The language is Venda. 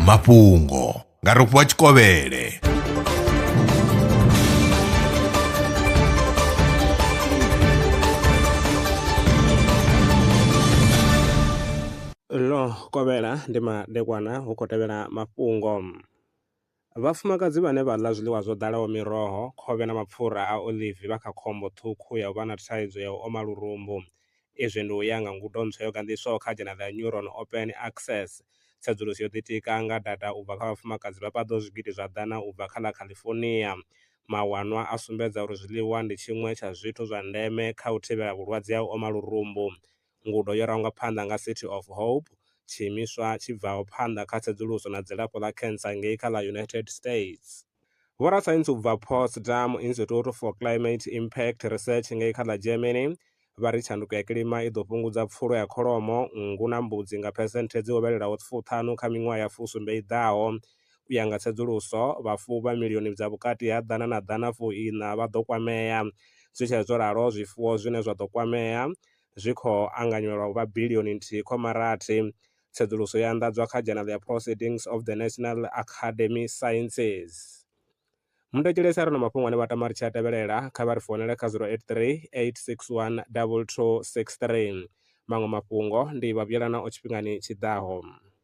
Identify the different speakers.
Speaker 1: mafhungo nga rofhiwa tshikovhele
Speaker 2: ḽo kovhela ndi madekwana hu khou tevhela mafhungo Vhafumakadzi vhane vha ḽa zwiḽiwa zwo ḓalaho miroho, khovhe na mapfura a oḽivi vha kha khombo ṱhukhu ya u vha na thaidzo ya u oma lurumbu. Izwi ndi u ya nga ngudo ntswa yo ganḓiswaho kha dzhanele ya Neuron Open Access. Tsedzuluso yo ḓitika nga data u bva kha vhafumakadzi vha paḓaho zwigidi zwa ḓana u bva kha ḽa California. Mawanwa a sumbedza uri zwiḽiwa ndi tshiṅwe tsha zwithu zwa ndeme kha u thivhela vhulwadze ha u oma lurumbu Ngudo yo rangwa phanḓa nga City of Hope, tshiimiswa tshi bvaho phanḓa kha tsedzuluso na dzilafho ḽa cancer ngei kha ḽa United States. Vhorasaintsi u bva Potsdam Institute for Climate Impact Research ngei kha ḽa Germany vha ri tshanduko ya kilima i ḓo fhungudza pfulo ya kholomo, nngu na mbudzi nga phesenthe dzi hovhelelaho fuṱhanu kha miṅwaha ya fusumbe i ḓaho. U ya nga tsedzuluso, vhafuwi vha milioni dza vhukati ha ḓana na ḓana fuiṋa vha ḓo kwamea. Zwi tshee zwo ralo, zwifuwo zwine zwa ḓo kwamea zwi khou anganywa lwa u vha bilioni nthihi khoma rathi. Tsedzuluso yo anḓadzwa kha Journal ya Proceedings of the National Academy Sciences. Muthetshelesi a re na mafhungo ane vha tama ri tshi a tevhelela, kha vha ri founele kha 083 861 2263. Maṅwe mafhungo ndi Vhavhuyelanaho Tshifhingani Tshi Ḓaho.